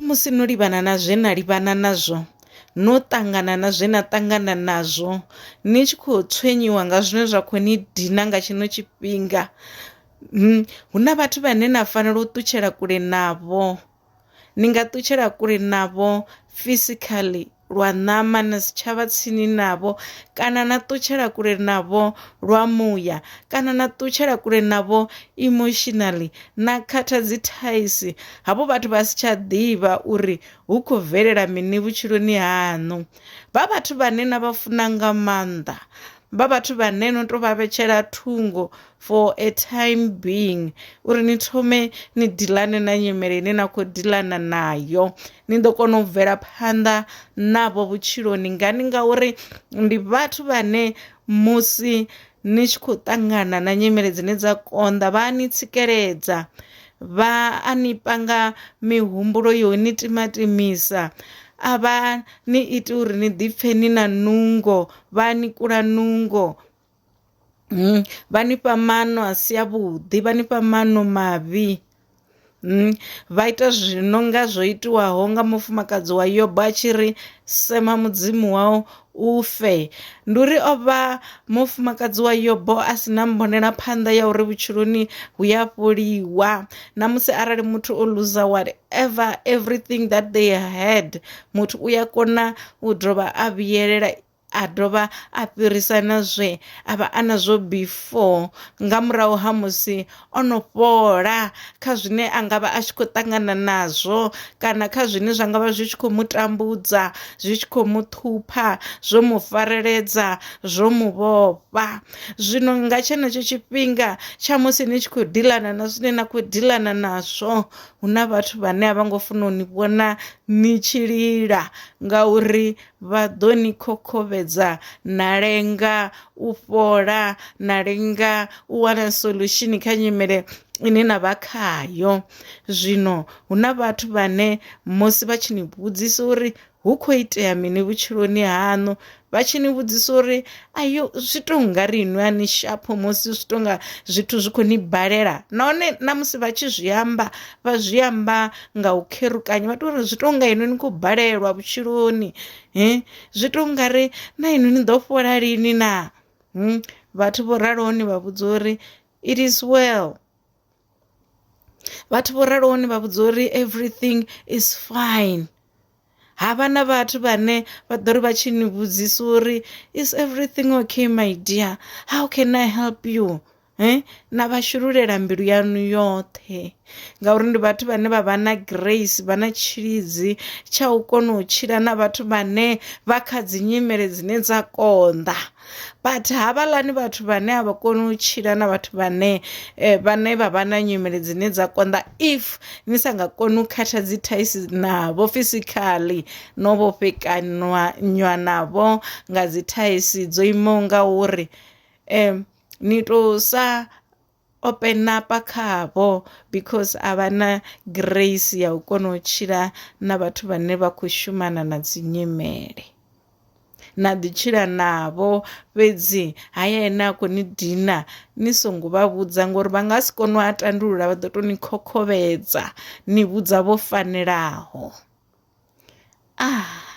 Musi no livhana na zwe na livhana nazwo, no ṱangana na zwe na ṱangana nazwo, ni tshi khou tswenyiwa nga zwine zwa khou ni dina nga tshino tshifhinga, hu na vhathu vhane na fanela u ṱutshela kule navho, ni nga ṱutshela kule navho physically lwa ṋama na si tshavha tsini navho kana na ṱutshela kule navho lwa muya kana na ṱutshela kule navho emotionally na khatha dzi thaisi havho vhathu vha si tsha ḓivha uri hu kho bvelela mini vhutshiloni haṋu vha vhathu vhane na vha funa nga maanḓa vha vhathu vhane no to vha vhetshela thungo for a time being uri ni thome ni dilane na nyimele ine na khou dilana nayo ni ḓo kona u bvela phanḓa navho vhutshiloni ngani ngauri ndi vhathu vhane musi ni tshi khou ṱangana na nyimele dzine dza konḓa vha ni tsikeledza vha a ni panga mihumbulo yo ni timatimisa a vha ni iti uri ni ḓipfe ni na nungo vha ni kula nungo Mm, vha ni fha maano a si avhuḓi vha ni fha maano mavhi mm, vha ita zwino nga zwo itiwaho nga mufumakadzi wa yobo a tshi ri sema mudzimu wau u fe ndi uri o vha mufumakadzi wa yobo a si na mbonela phanḓa ya uri vhutshiloni hu ya fholiwa na musi arali muthu o luza whatever everything that they had muthu u ya kona u dovha a vhuyelela a dovha a fhirisa na zwe a vha a nazwo before nga murahu ha musi o no fhola kha zwine a nga vha a tshi khou ṱangana nazwo kana kha zwine zwa nga vha zwi tshi khou mu tambudza zwi tshi khou mu ṱhupha zwo mu fareledza zwo mu vhofha zwino nga tshenetsho tshifhinga tsha musi ni tshi khou dilana na zwine na khou dilana nazwo hu na vhathu vhane a vha ngo funa u ni vhona ni tshi lila ngauri vha ḓo ni khokhovhedza na lenga u fhola na lenga u wana solution kha nyimele ine na vha khayo zwino hu na vhathu vhane musi vha tshi ni vhudzisa uri hu kho itea mini vhutshiloni haṋu vha tshi ni vhudzisa uri ayo zwi tou nga ri inwi a ni shapho musi zwi tou nga zwithu zwi khou ni balela nahone na musi vha tshi zwi amba vha zwi amba nga u kherukanya vha tou ri zwi tou nga inwi ni khou balelwa vhutshiloni he zwi tou nga ri na inwi ni ḓo fhola lini na vhathu vho raloho ni vha vhudza uri it is well vhathu vho raloho ni vha vhudza uri everything is fine ha vha na vhathu vhane vha ḓo ri vha tshi ni vhudzisa uri is everything okay my dear how can i help you eh na vha shululela mbilu yanu yoṱhe ngauri ndi vhathu vhane vha vha na grace vha na tshilidzi tsha u kona u tshila na vhathu vhane vha kha dzi nyimele dzine dza konḓa but havhaḽani vhathu vhane a vha koni u tshila na vhathu vhane eh, vhane vha vha na nyimele dzine dza konḓa if ni sa nga koni u khatha dzi thaisi navho physically no vhofhekanwa nywa navho nga dzi thaisi dzo imaho nga uri um ni to sa o penapa khavho because a vha na grace ya u kona u tshila na vhathu vhane vha khou shumana na dzi nyimele na ḓi tshila navho fhedzi haya ene a khou ni dina ni songo vha vhudza ngori vha nga si kone u a tandulula vha ḓo tou ni khokhovhedza ni vhudza vho fanelaho ah